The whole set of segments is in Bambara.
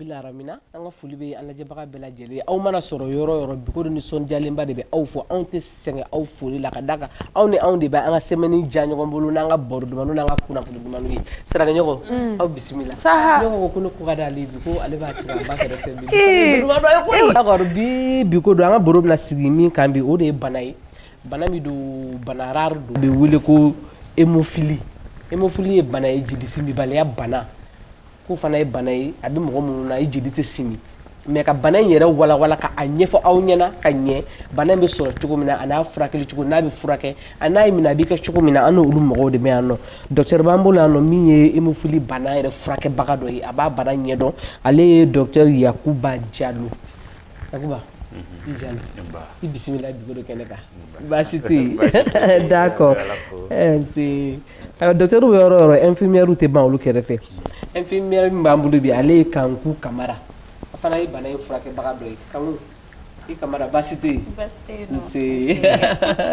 Bil alamina an ka foli bɛ an lajɛbaga bɛɛ lajɛlen aw mana sɔrɔ yɔrɔ yɔrɔ bi ko nisɔndiyalenba de bɛ aw fo anw tɛ sɛgɛn aw foli la ka da kan aw ni anw de bɛ an ka semaine diya ɲɔgɔn bolo n'an ka baro dumanw n'an ka kunnafoni dumanw ye saraɲɔgɔn mm. aw bisimila sa ko ko ne ko da ale bi ko ale b'a sigi ba bi bi ko don an ka baro bɛna sigi min kan bi o de ye bana ye Bana min don bana rare don, o bɛ wele ko hémophilie, hémophilie ye bana ye jeli simibaliya bana, k'o fana ye bana ye a bɛ mɔgɔ minnu na i jeli tɛ simi mais ka bana in yɛrɛ walawala ka a ɲɛfɔ aw ɲɛna ka ɲɛ bana in bɛ sɔrɔ cogo min na a n'a furakɛli cogo n'a bɛ furakɛ a n'a y'i minɛ a b'i kɛ cogo min na an n'olu mɔgɔw de bɛ yan nɔ docteur b'an bolo yan nɔ min ye hémophilie bana yɛrɛ furakɛbaga dɔ ye a b'a bana ɲɛdɔn ale ye docteur Yakuba Jalo Yakuba i Jalo i bisimila bi ko kɛnɛ kan baasi tɛ yen d'accord docteur bɛ yɔrɔ o yɔrɔ infirmière tɛ ban olu kɛrɛfɛ infirmière min b'an bolo bi ale ye Kanku Kamara a fana ye bana in furakɛbaga dɔ ye Kanku i Kamara baasi tɛ yen nsee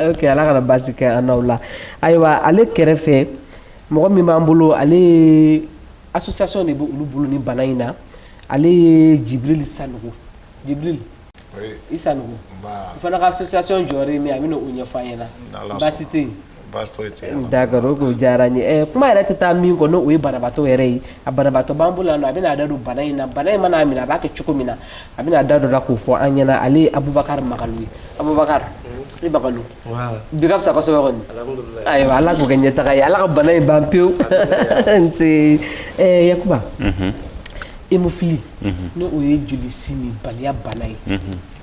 ok Ala kana baasi kɛ an n'aw la ayiwa ale kɛrɛfɛ mɔgɔ min b'an bolo ale ye Association de b' olu bolo ni bana in na ale ye jibril sanogo jibril i sanogo o fana ka association jɔyɔrɔ ye min a bɛna o ɲɛfɔ an ɲɛna baasi tɛ yen d'accord o ko diyara n ye kuma yɛrɛ tɛ taa min kɔ n'o ye banabaatɔ yɛrɛ ye a banabaatɔ b'an bolo yan nɔ a bɛna a da don bana in na bana in man'a minɛ a b'a kɛ cogo min na a bɛna a da don a la k'o fɔ an ɲɛna ale ye abubakar magalu ye abubakar bi ka fisa kosɛbɛ kɔni ayiwa ala k'o kɛ ɲɛtaga ye ala ka bana in ban pewu nse yakuba hémophilie n'o ye joli simibaliya bana ye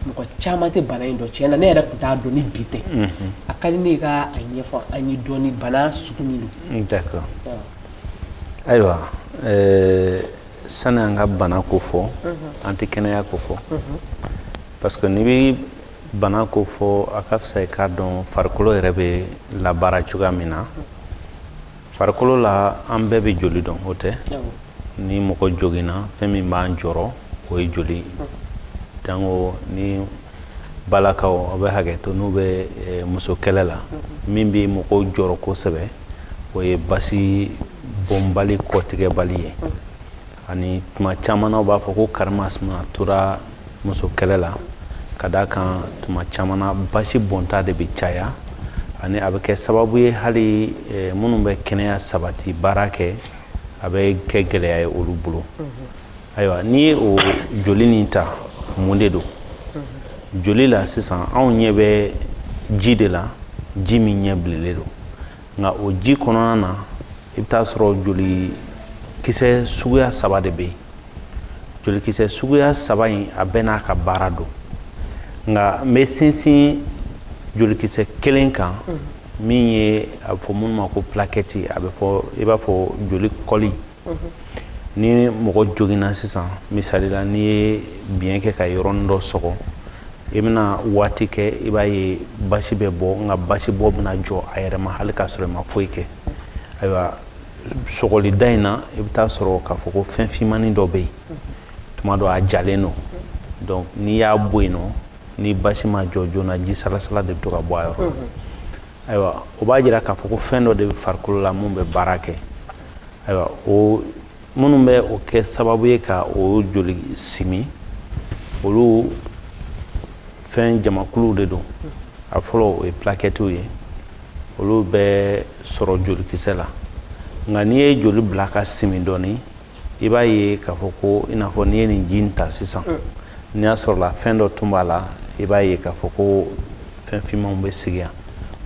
mɔgɔ caman tɛ bana in dɔn tiɲɛ na ne yɛrɛ tun t'a dɔn ni bi tɛ a ka di ne ye i ka a ɲɛfɔ an ye dɔɔni bana sugu min don ayiwa sani an ka bana ko fɔ an tɛ kɛnɛya ko fɔ parce que n'i bɛ bana ko fɔ a ka fisa i k'a dɔn farikolo yɛrɛ bɛ labaara cogoya min na farikolo la an bɛɛ bɛ joli dɔn o tɛ ni mɔgɔ joginna fɛn min b'an jɔrɔ o ye joli jango ni balakaw aw bɛ hakɛ to n'u bɛ eh, muso kɛlɛ la mm-hmm. min bɛ mɔgɔw jɔrɔ kosɛbɛ o ye basi bɔnbali kɔtigɛbali ye mm-hmm. ani tuma caman na u b'a fɔ ko karimasina tora muso kɛlɛ la ka d'a kan tuma caman na basi bɔnta de bɛ caya ani a bɛ kɛ sababu ye hali eh, minnu bɛ kɛnɛya sabati baara kɛ a bɛ kɛ gɛlɛya ye olu bolo ayiwa n'i ye o joli nin ta mun de don joli la sisan anw ɲɛ bɛ ji de la ji min ɲɛ bilelen don nka o ji kɔnɔna na i bɛ taa sɔrɔ jolikisɛ suguya saba de bɛ yen jolikisɛ suguya saba in a bɛɛ n'a ka baara don nka n bɛ sinsin jolikisɛ kelen kan min ye a bɛ fɔ minnu ma ko pilakɛti a bɛ fɔ i b'a fɔ joli kɔli ni mɔgɔ joginna sisan misali la n'i ye biɲɛ kɛ ka yɔrɔnin dɔ sɔgɔ i bɛna waati kɛ i b'a ye basi bɛ bɔ nka basi bɔ bɛna jɔ a yɛrɛ ma hali k'a sɔrɔ i ma foyi kɛ ayiwa sɔgɔlida in na i bɛ taa sɔrɔ k'a fɔ ko fɛn finmannin dɔ bɛ yen tuma dɔ a jalen don donc n'i y'a bɔ yen nɔ ni basi ma jɔ joona ji salasala de bɛ to ka bɔ a yɔrɔ ayiwa o b'a jira k'a fɔ ko fɛn dɔ de bɛ farikolo la mun bɛ baara kɛ ayiwa o minnu bɛ o kɛ sababu ye ka o joli simi olu fɛn jamakuluw de don a fɔlɔ o ye plakɛtiw ye olu bɛ sɔrɔ jolikisɛ la nka n'i ye joli bila ka simi dɔɔnin i b'a ye k'a fɔ ko i n'a fɔ n'i ye nin ji in ta sisan mm. n'i y'a sɔrɔ la fɛn dɔ tun b'a la i b'a ye k'a fɔ ko fɛn finmanw bɛ sigi yan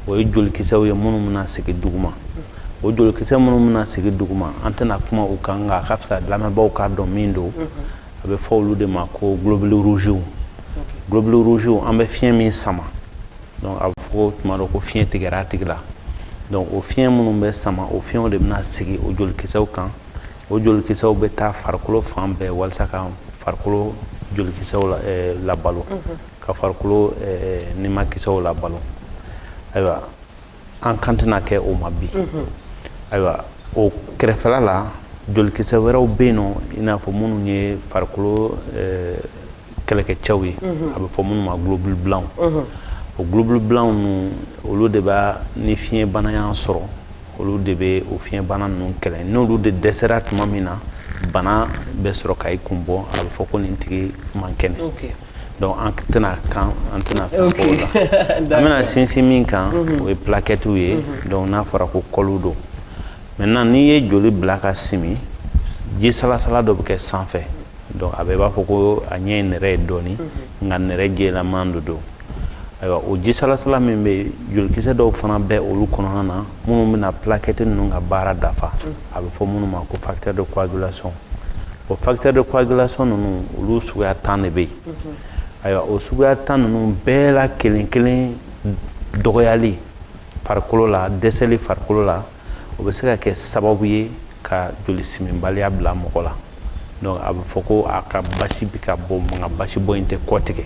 o ye jolikisɛw ye minnu bɛna sigi duguma mm. o jolikisɛ minnu bɛna sigi duguma an tɛna kuma u kan nka a ka fisa lamɛnbaaw k'a dɔn min don mm-hmm. a bɛ fɔ olu de ma ko globule rougew globule rougew an bɛ fiɲɛ min sama donc a bɛ fɔ ko tuma dɔ ko fiɲɛ tigɛra a tigi la donc o fiɲɛ minnu bɛ sama o fiɲɛw de bɛna sigi o jolikisɛw kan o jolikisɛw bɛ taa farikolo fan bɛɛ walasa ka farikolo jolikisɛw labalo ka farikolo nimakisɛw labalo ayiwa an kan tɛna kɛ o ma bi ayiwa o kɛrɛfɛla la jolikisɛ wɛrɛw bɛ yen nɔ i n'a fɔ minnu ye farikolo kɛlɛkɛcɛw ye a bɛ fɔ minnu ma globule blanc o globule blanc ninnu olu de b'a ni fiɲɛ bana y'an sɔrɔ olu de bɛ o fiɲɛ bana ninnu kɛlɛ n'olu de dɛsɛra tuma min na bana bɛ sɔrɔ ka i kun bɔ a bɛ fɔ ko nin tigi man kɛnɛ donc an tɛna kan an tɛna fɛn fɔ o la an bɛna sinsin min kan o ye plaquettew ye donc n'a fɔra ko kɔliw don maintenant n'i ye joli bila ka simi ji salasala dɔ bɛ kɛ sanfɛ donc a bɛ i b'a fɔ ko a ɲɛ ye nɛrɛ ye dɔɔni mhm. nka nɛrɛ jɛlaman de don ayiwa o ji salasala min bɛ yen jolikisɛ dɔw fana bɛ olu kɔnɔna na minnu bɛna plaquette ninnu ka baara dafa mhm. a bɛ fɔ minnu ma ko facteur de coagulation o facteur de coagulation ninnu olu suguya tan de bɛ yen mhm. ayiwa o suguya tan ninnu bɛɛ la kelen kelen dɔgɔyali farikolo la dɛsɛli farikolo la o bɛ se ka kɛ sababu ye ka joli siminbaliya bila mɔgɔ la donc a bɛ fɔ ko a ka basi bɛ ka bɔ nka basibɔ in tɛ kɔtigɛ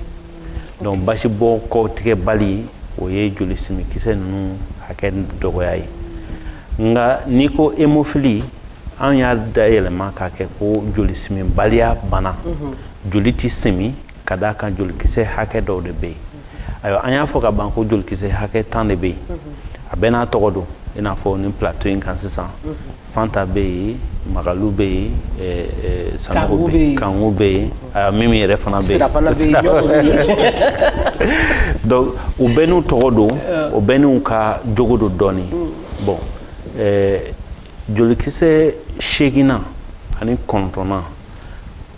donc basibɔ kɔtigɛ bali o ye joli siminkisɛ ninnu hakɛ dɔgɔya ye nka n'i ko hémophilie an y'a dayɛlɛma k'a kɛ ko joli siminbaliya bana joli tɛ simin ka d'a kan jolikisɛ hakɛ dɔw de bɛ yen ayiwa an y'a fɔ ka ban ko jolikisɛ hakɛ tan de bɛ yen a bɛɛ n'a tɔgɔ don i n'a fɔ nin plateau in kan sisan fanta bɛ yen magalu bɛ yen eh, eh, sanogo bɛ yen kanku bɛ yen ayiwa mimi yɛrɛ fana bɛ yen donc u bɛɛ n'u tɔgɔ don o bɛɛ n'u ka jogo don dɔɔni bon eh, jolikisɛ seeginnan ani kɔnɔntɔnnan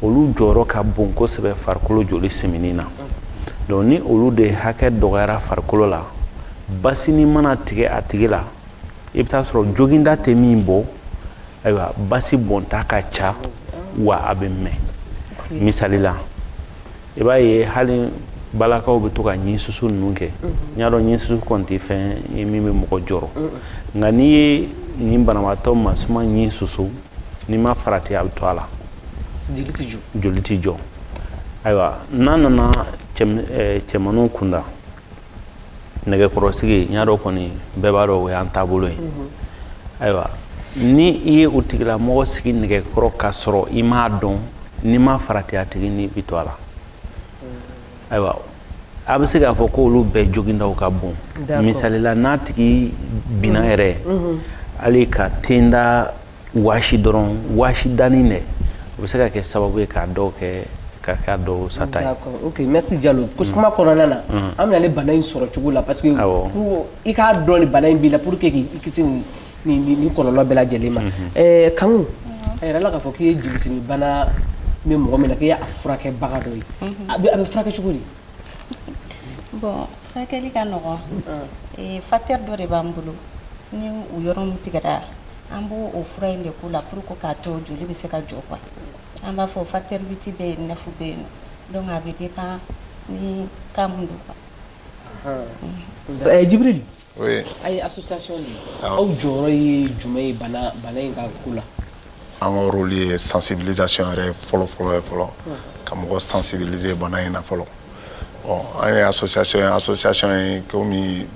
olu jɔyɔrɔ ka bon kosɛbɛ farikolo joli simini na donc ni olu de hakɛ dɔgɔyara farikolo la basini mana tigɛ a tigi la i bɛ taa sɔrɔ joginda tɛ min bɔ ayiwa basi bɔnta ka ca wa a bɛ mɛɛn misali la i b'a ye hali balakaw bɛ to ka ɲin susu ninnu kɛ mhm. n y'a dɔn ɲin susu kɔni tɛ fɛn ye min bɛ mɔgɔ jɔrɔ nka n'i ye nin banabaatɔ musoman ɲin susu n'i ma farati a bɛ to a la joli tɛ jɔ ayiwa n'a nana cɛmanw kunda nɛgɛkɔrɔsigi n y'a dɔn kɔni bɛɛ b'a dɔn o y'an taabolo ye ayiwa ni i ye o tigilamɔgɔ sigi nɛgɛkɔrɔ ka sɔrɔ i m'a dɔn n'i ma farati a tigi ni bɛ to a la ayiwa a bɛ se k'a fɔ ko olu bɛɛ jogindaw ka bon misali la n'a tigi binna yɛrɛ hali k'a tenda waasi dɔrɔn waasi danni dɛ o bɛ se ka kɛ sababu ye k'a dɔw kɛ ka k'a dɔw sata ye ok merci Jalo kuma kɔnɔna na an bɛ na ale bana in sɔrɔ cogo la parce que i k'a dɔn ni bana in b'i la pour que k'i kisi nin ni kɔlɔlɔ bɛɛ lajɛlen ma Kanku a yɛrɛ la k'a fɔ k'i ye joli simin bana bɛ mɔgɔ min na k'i y'a furakɛbaga dɔ ye a bɛ furakɛ cogo di bon furakɛli ka nɔgɔn facteur dɔ de b'an bolo ni o yɔrɔ min tigɛra an b'o fura in de k'o la pour k'a to joli bɛ se ka jɔ quoi an b'a fɔ facteur huit bɛ yen neuf bɛ yen donc a bɛ dépend ni cas mun don jibiri Aw ye association de ye, awɔ, aw jɔyɔrɔ ye jumɛn ye bana bana in ka ko la, an ka rôle ye sensibilisation yɛrɛ fɔlɔ fɔlɔ ye fɔlɔ ka mɔgɔ sensibiliser bana in na fɔlɔ bon an ye association ye association in komi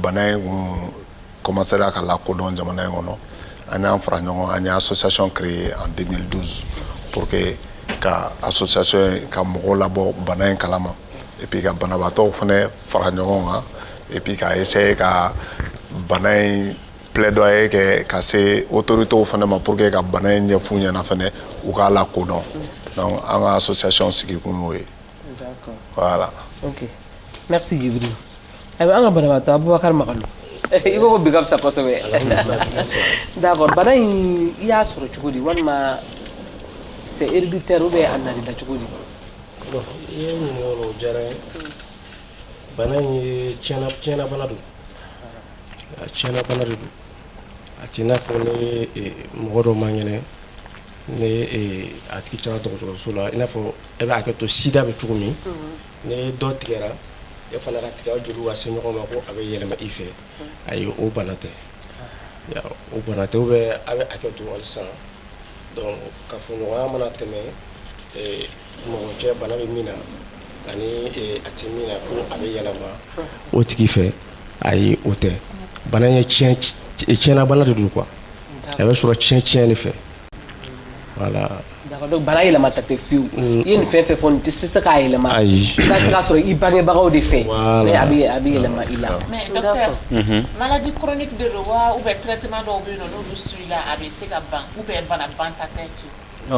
bana in tun commencera ka lakodɔn jamana in kɔnɔ an y'an fara ɲɔgɔn kan an ye association créer en 2012 pour que ka association in ka mɔgɔw labɔ bana in kalama et puis ka banabaatɔw fana fara ɲɔgɔn kan et puis ka essayer ka bana in plaidoyer kɛ ka se autoritéw fana ma pour que ka bana in ɲɛf'u ɲɛna fana u k'a lakodɔn donc an ka association sigi kun y'o ye voilà ok merci jibril ayiwa an ka banabaatɔ abubakar magalu i ko ko bi ka fisa kosɛbɛ d'accord bana in i y'a sɔrɔ cogo di walima c'est héréditaire ou bien a nan'i la cogo di i ye ɲininkali o la o diyara n ye bana in ye tiɲɛna tiɲɛna bana don a tiɲɛna bana de don a t'i n'a fɔ ni eh, mɔgɔ dɔ man kɛnɛ ni eh, a tigi taara dɔgɔtɔrɔso la i n'a fɔ a bɛ hakɛ to sida bɛ cogo min ni dɔ tigɛra e fana ka tigɛ aw joliw ka se ɲɔgɔn ma ko a bɛ yɛlɛma i fɛ ayi o bana tɛ o bana tɛ ou bien a bɛ hakɛ to halisa donc kafoɲɔgɔnya mana tɛmɛ mɔgɔ cɛ bana bɛ min na ani a tɛ min na ko a bɛ yɛlɛma o tigi fɛ ayi o tɛ bana ye tiɲɛna bana de don quoi a bɛ sɔrɔ tiɲɛ tiɲɛ de fɛ voilà Bana yɛlɛma ta tɛ fiyewu i ye nin fɛn fɛn fɔ nin tɛ se se k'a yɛlɛma ayi se k'a sɔrɔ i bangebagaw de fɛ a a bɛ yɛlɛma i la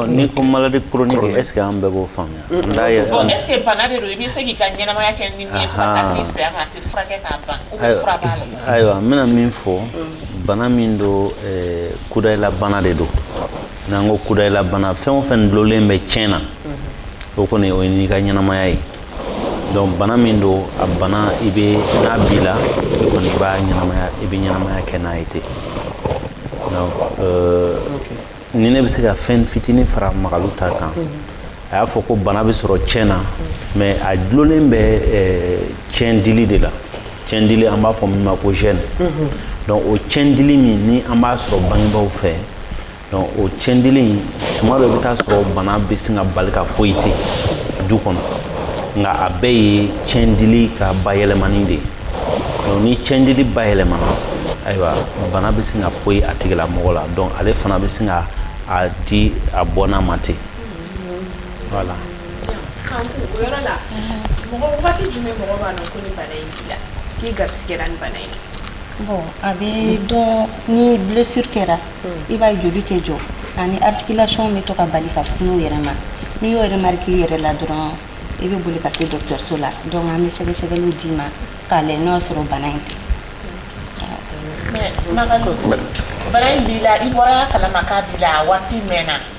n'i ko maladie chronique est-ce que an bɛɛ b'o faamuya ayiwa n bɛna min fɔ bana min don kudayilabana de don n'an ko kudayilabana fɛn o fɛn dulonlen bɛ tiɲɛ na o kɔni o ye n'i ka ɲɛnamaya ye donc bana min don a bana i bɛ n'a b'i la i kɔni i b'a ɲɛnamaya i bɛ ɲɛnamaya kɛ n'a ye ten donc euh, ni ne bɛ se ka fɛn fitinin fara magalu ta kan a y'a fɔ ko bana bɛ sɔrɔ tiɲɛ na mais a dulonnen bɛ tiɲɛ dili de la tiɲɛ dili an b'a fɔ min ma ko gène donc o tiɲɛ dili min ni an b'a sɔrɔ bangebaaw fɛ donc o tiɲɛ dili in tuma dɔ i bɛ taa sɔrɔ bana bɛ se ka bali ka poyi ten du kɔnɔ nka a bɛɛ ye tiɲɛ dili ka bayɛlɛmani de ye donc ni tiɲɛ dili bayɛlɛmana ayiwa bana bɛ se ka poyi a tigilamɔgɔ la donc ale fana bɛ se ka a di a bɔnna ma ten Voilà. Kanku o yɔrɔ la, mɔgɔ waati jumɛn mɔgɔ b'a dɔn ko ni bana in b'i la, k'i garisigɛra ni bana in na? Bon a bɛ dɔn ni blessure kɛra, i b'a ye joli tɛ jɔ ani articulation bɛ to ka bali ka funu u yɛrɛ ma, n'i y'o remarque i yɛrɛ la dɔrɔn, i bɛ boli ka se dɔgɔtɔrɔso la donc an bɛ sɛgɛsɛgɛliw d'i ma k'a lajɛ n'o y'a sɔrɔ bana in tɛ. Mais Magalu, bana in b'i la, i bɔra a kalama k'a b'i la, a waati mɛnna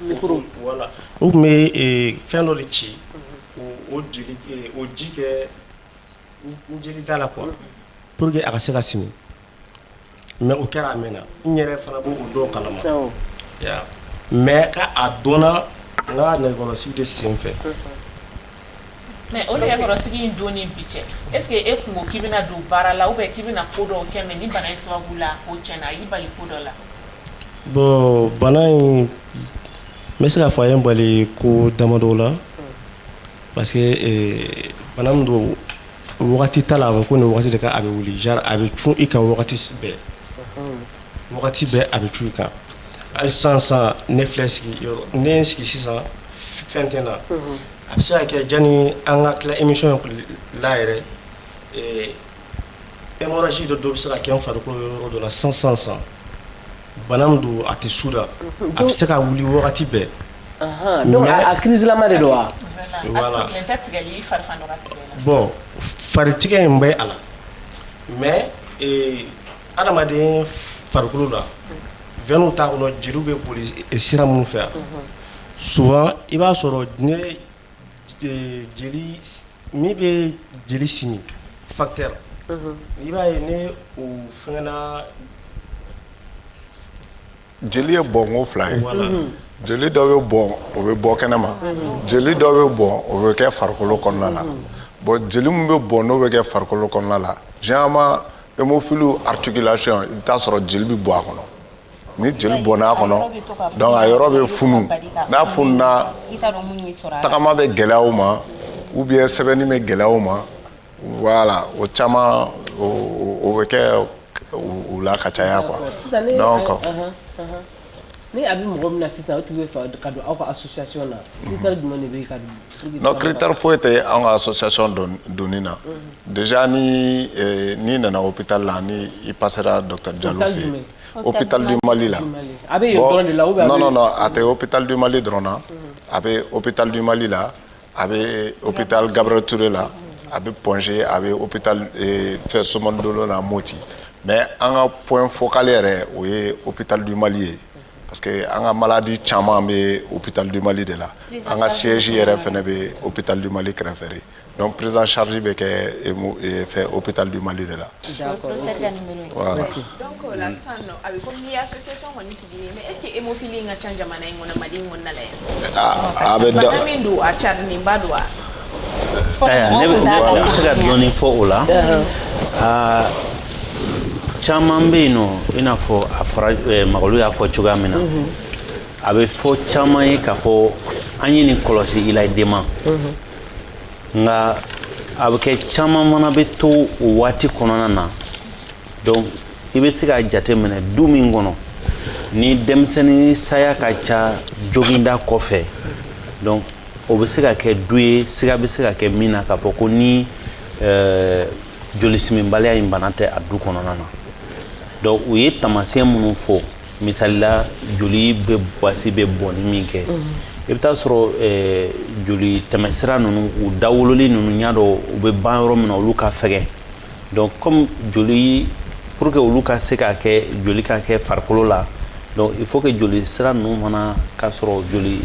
u tun bɛ fɛn dɔ de ci o ji kɛ n jeli da la quoi pour que a ka se ka simi mais o kɛra a mɛnna n yɛrɛ fana b' o dɔ kalama mais k' a dɔnna n ka nɛgɛkɔrɔsigi de sen fɛ Mais o nɛgɛkɔrɔsigi in don ni bi cɛ est-ce que e kun ko k'i bɛna don baara la ou bien k'i bɛna ko dɔw kɛ mais ni bana in sababu la o tiɲɛna a y'i bali ko dɔ la bon bana in n bɛ se k'a fɔ a ye n bali ko damadɔ la parce que bana min don wagati t'a la a bɛ ko nin wagati de kan a bɛ wuli genre a bɛ cun i kan wagati bɛɛ Wagati bɛɛ a bɛ cun i kan hali sisan sisan ne filɛ sigi yɔrɔ ni ne ye n sigi sisan fɛn tɛ n na a bɛ se ka kɛ janni an ka tila émission in la yɛrɛ ee hemorragie dɔ bɛ se ka kɛ n farikolo yɔrɔ dɔ la sisan sisan sisan bana min don a tɛ su da a bɛ se ka wuli wagati bɛɛ donc a crise lama de don wa? voilà bon fari tigɛ in bɛ a la mais ee Adamaden farikolo la veinew t'a kɔnɔ jeliw bɛ boli sira minnu fɛ souvent i b'a sɔrɔ ne jeli min bɛ jeli simi facteur i b'a ye ne o fɛgɛnna jeli ye bɔnko fila ye jeli dɔ bɛ bɔn o bɛ bɔ kɛnɛ ma jeli dɔ bɛ bɔn o bɛ kɛ farikolo kɔnɔna la bon jeli min bɛ bɔn n'o bɛ kɛ farikolo kɔnɔna la généralement hémophile articulation i bɛ t'a sɔrɔ jeli bɛ bɔ a kɔnɔ ni jeli bɔnna a kɔnɔ donc a yɔrɔ bɛ funu n'a fununa tagama bɛ gɛlɛya o ma ou bien sɛbɛnni bɛ gɛlɛya o ma Wala o caman o bɛ kɛ u la ka caya kuwa ni a bɛ mɔgɔ min na sisan tun ka don aw ka sosoya na kiri foyi tɛ an ka sosoyayɔn dɔn doni na de ni n'i nana o bɛta la ni i pasera dɔta ja o bɛtali mali la a bɛ la a tɛ o bɛtali mali dɔrɔn na a bɛ o bɛtali mali la a bɛ hopital Gabriel Toure la, a bɛ Point-G a bɛ hopital fɛn Sominé Dolo la Moti mais an ka point focal yɛrɛ o ye hopital du Mali ye parce que an ka maladies caman bɛ hopital du Mali de la, an ka siège yɛrɛ fana bɛ hopital du Mali kɛrɛfɛ de donc prise en charge bɛ kɛ hopital du Mali de la, d'accord, professeur ka numero ye, voila, donc o la sisan nɔ a bɛ komi ni association kɔni sigira est-ce que hémophilie ka ca jamana in kɔnɔ mali in kɔnɔna la yan. a bɛ dɔn bana min don a carilenba don wa. ayiwa ne bɛ ne bɛ se ka dɔɔni fɔ o la. aa caman bɛ yen nɔ i n'a fɔ a fɔra eh, Mayiga olu y'a fɔ cogoya min na. a bɛ fɔ caman ye k'a fɔ an ye nin kɔlɔsi i la i denma. nka a bɛ kɛ caman fana bɛ to o waati kɔnɔna na. donc i bɛ se k'a jate minɛ du min kɔnɔ ni denmisɛnnin saya ka ca joginda kɔfɛ donc o bɛ se ka kɛ du ye siga bɛ se ka kɛ min na k'a fɔ ko ni euh, jolisiminbaliya in bana tɛ a du kɔnɔna na donc u ye taamasiyɛn minnu fɔ misali la joli bɛ basi bɛ bɔnni min kɛ i bɛ taa sɔrɔ euh, joli tɛmɛsira ninnu u dawololi ninnu ɲa dɔ u bɛ ban yɔrɔ min na olu ka fɛgɛn donc comme joli pour que olu ka se ka kɛ joli ka kɛ farikolo la donc il faut que joli sira ninnu fana ka sɔrɔ joli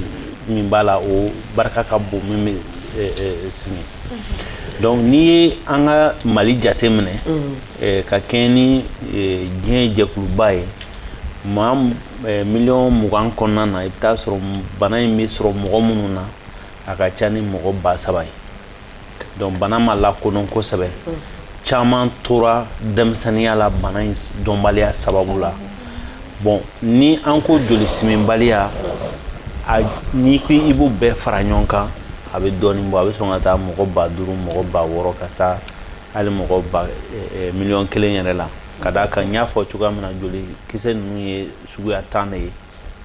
min b'a la o barika ka bon min bɛ eh, eh, simi mhm. donc n'i ye an ka mali jate minɛ mhm. eh, ka kɛɲɛ ni diɲɛ jɛkuluba ye maa miliyɔn mugan kɔnɔna na i bɛ taa sɔrɔ bana in bɛ sɔrɔ mɔgɔ minnu na a ka ca ni mɔgɔ ba saba ye donc bana ma lakodɔn kosɛbɛ caman tora denmisɛnninya la bana in dɔnbaliya sababu la bon ni an ko jolisiminbaliya n'i ko i b'o bɛɛ fara ɲɔgɔn kan a bɛ dɔɔni bɔ a bɛ sɔn ka taa mɔgɔ ba duuru mɔgɔ ba wɔɔrɔ ka taa hali mɔgɔ ba miliyɔn kelen yɛrɛ la ka d'a kan n y'a fɔ cogoya min na joli kisɛ ninnu ye suguya tan de ye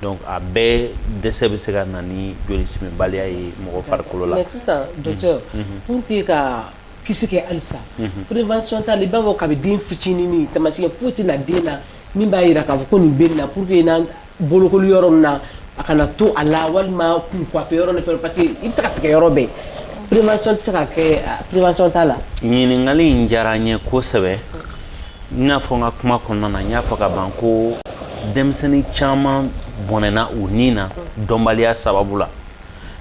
donc a bɛɛ dɛsɛ bɛ se ka na ni joli simibaliya ye mɔgɔ farikolo la mais sisan docteur pour que ka kisi kɛ halisa prévention t'a la i b'a fɔ kabi den fitinini taamasiyɛn foyi tɛ na den na min b'a yira k'a fɔ ko nin bɛ nin na pour que n'an bolokoli yɔrɔ min na a kana to a la walima kun coiffer yɔrɔ ni fɛn parce que i bɛ se ka tigɛ yɔrɔ bɛɛ prévention tɛ se ka kɛ prévention t'a la ɲininkali in diyara n ye kosɛbɛ n y'a fɔ n ka kuma kɔnɔna na n y'a fɔ ka ban ko denmisɛnnin caman bɔnɛna u ni na dɔnbaliya sababu la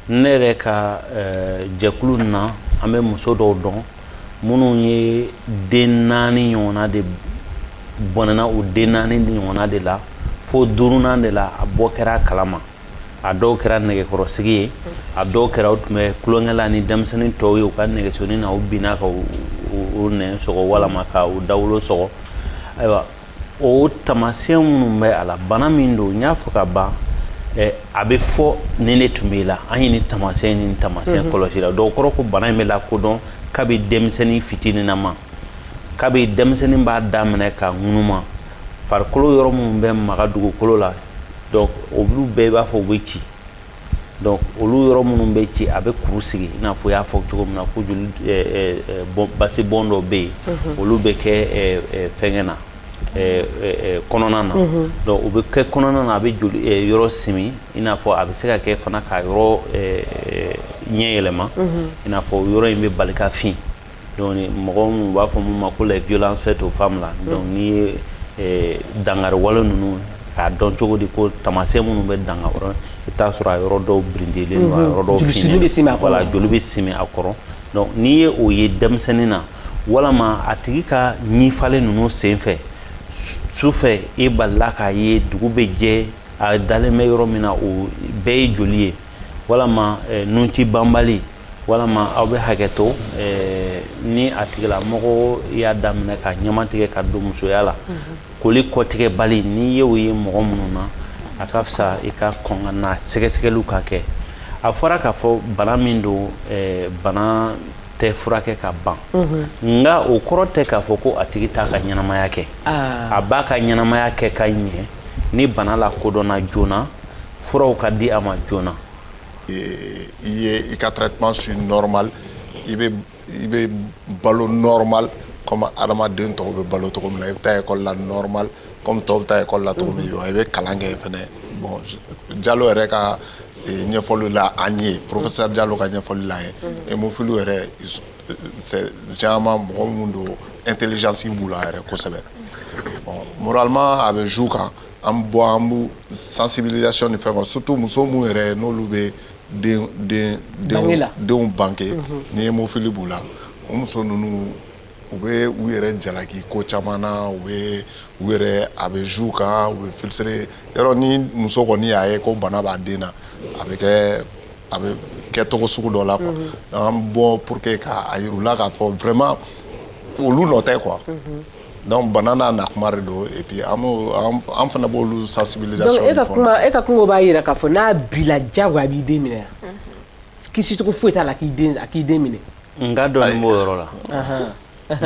ne yɛrɛ ka eh, jɛkulu na an bɛ muso dɔw dɔn minnu ye den naani ɲɔgɔnna de bɔnɛna u den naani ɲɔgɔnna de la fo duurunan de la a bɔ kɛra a kalama a dɔw kɛra nɛgɛkɔrɔsigi ye a dɔw kɛra u tun bɛ tulonkɛ la ni denmisɛnnin tɔw ye u ka nɛgɛsonin na u binna ka u nɛn sɔgɔ walama ka u dawolo sɔgɔ ayiwa o taamasiyɛn minnu bɛ a la bana min don n y'a fɔ ka ban a bɛ fɔ nin de tun b'i la an ye nin taamasiyɛn nin taamasiyɛn kɔlɔsi i la donc o kɔrɔ ko bana in bɛ lakodɔn kabi denmisɛnnin fitininama kabi denmisɛnnin b'a daminɛ ka ŋunuma farikolo yɔrɔ minnu bɛ maga dugukolo la donc olu bɛɛ b'a fɔ u bɛ ci donc olu yɔrɔ minnu bɛ ci a bɛ kuru sigi i n'a fɔ i y'a fɔ cogo min na ko joli basi bɔn dɔ bɛ yen olu bɛ kɛ fɛngɛ na kɔnɔna na donc u bɛ kɛ kɔnɔna na a bɛ joli yɔrɔ simi i n'a fɔ a bɛ se ka kɛ fana ka yɔrɔ ɲɛ yɛlɛma i n'a fɔ yɔrɔ in bɛ bali ka fin Donc mɔgɔ minnu b'a fɔ min ma ko les violences faites aux femmes la donc n'i ye ɛɛ dankari wale ninnu k'a dɔn cogo di ko taamasiyɛn minnu bɛ danga o la i bɛ t'a sɔrɔ a yɔrɔ dɔw birintilen don a yɔrɔ dɔw finnen don joli simi bɛ simi a kɔrɔ voilà joli bɛ simi a kɔrɔ donc n'i ye o ye denmisɛnnin na walama a tigi ka ɲifalen ninnu senfɛ sufɛ i balila k'a ye dugu bɛ jɛ a dalen bɛ yɔrɔ min na o bɛɛ ye joli ye walama nunci banbali Walama aw bɛ hakɛ to ni a tigilamɔgɔ y'a daminɛ ka ɲama tigɛ ka don musoya la koli kɔtigɛbali n'i ye o ye mɔgɔ minnu na a ka fisa i ka kɔn ka na sɛgɛsɛgɛliw ka kɛ a fɔra k'a fɔ bana min don bana tɛ furakɛ ka ban nka o kɔrɔ tɛ k'a fɔ ko a tigi t'a ka ɲɛnamaya kɛ a b'a ka ɲɛnamaya kɛ ka ɲɛ ni bana lakodɔnna joona furaw ka di a ma joona i ye i ka traitement suit normal i bɛ i bɛ balo normal comme adamaden tɔw bɛ balo cogo min na i bɛ taa école la normal comme tɔw bɛ taa école la cogo min wa i bɛ kalan kɛ fɛnɛ bon Jalo yɛrɛ ka ɲɛfɔli la an ye professeur Jalo ka ɲɛfɔli la an ye hémophile yɛrɛ c'est généralement mɔgɔ minnu don intelligence b'u la yɛrɛ kosɛbɛ bon moralement a bɛ joue u kan an bɛ bɔ an bɛ sensibilisation ni fɛn kɛ surtout muso minnu yɛrɛ n'olu bɛ denw bange ni hémophilie b'u la o muso ninnu u bɛ u yɛrɛ jalaki ko caman na u bɛ u yɛrɛ a bɛ joue u kan u bɛ frustrer yɔrɔ ni muso kɔni y'a ye ko bana b'a den na a bɛ kɛ a bɛ kɛ cogo sugu dɔ la quoi an bɛ bɔ pour que k'a yira u la k'a fɔ vraiment olu nɔ tɛ quoi Donc bana n'a na kuma don an fana b'u sensibiliser e ka kuma e ka kungo b'a jira k'a fɔ n'a b'i la jagoya a b'i den minɛ kisicogo foyi t'a la k'i k'i den minɛ nkalonnin b'o yɔrɔ la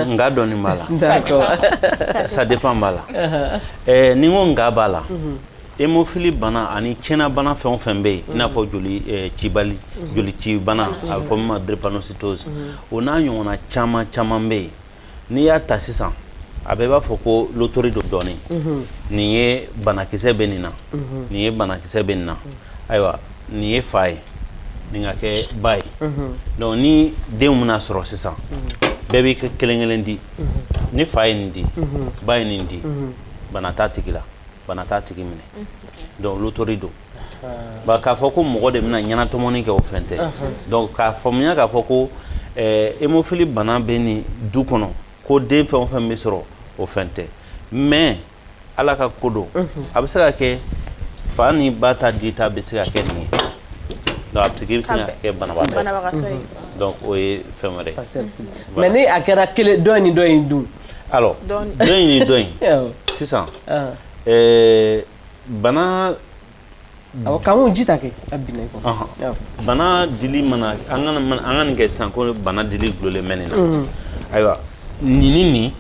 nkalonnin b'a la ça dépend b'a la ni n ko nkalon b'a la hémophilie bana ani tiɲɛna bana fɛn o fɛn bɛ yen i n'a fɔ joli joli ci bana a bɛ fɔ min ma drépanocytose o n'a ɲɔgɔnna caman caman bɛ yen n'i y'a ta sisan a bɛɛ b'a fɔ ko lotori don dɔɔni nin ye banakisɛ bɛ nin na nin ye banakisɛ bɛ nin na ayiwa nin ye fa ye nin ka kɛ ba ye donc ni denw bɛna sɔrɔ sisan bɛɛ b'i ka kelen kelen di ni fa ye nin di ba ye nin di bana t'a tigi la bana t'a tigi minɛ donc lotori don k'a fɔ ko mɔgɔ de bɛna ɲɛnatɔmɔni kɛ o fɛn tɛ donc k'a faamuya k'a fɔ ko hémophilie bana bɛ nin du kɔnɔ ko den fɛn o fɛn bɛ sɔrɔ o fɛn tɛ mais ala ka ko don a bɛ se ka kɛ fa ni ba ta dita bɛ se ka kɛ nin ye donc a tigi bɛ se ka kɛ banabagatɔ ye donc o ye fɛn wɛrɛ ye mais ni a kɛra kelen dɔ ni dɔ in dun alors dɔ in ni dɔ in sisan ɛɛ bana awɔ k'an k'o ji ta kɛ a binna i kɔ ɔhɔn awɔ bana dili mana an kana an ka nin kɛ sisan ko bana dili dulolen bɛ nin na ayiwa nin ni nin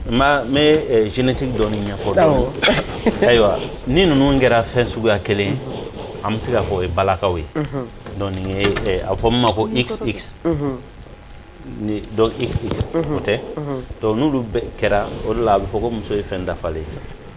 n b'a n bɛ eh, génétique dɔɔni ɲɛfɔ dɔɔni awɔ ayiwa ni ninnu kɛra fɛn suguya kelen ye an bɛ se k'a fɔ o ye balakaw ye donc nin ye eh, a bɛ fɔ min ma ko xx donc xx o tɛ donc n'olu bɛɛ kɛra o de la a bɛ fɔ ko muso ye fɛn dafalen ye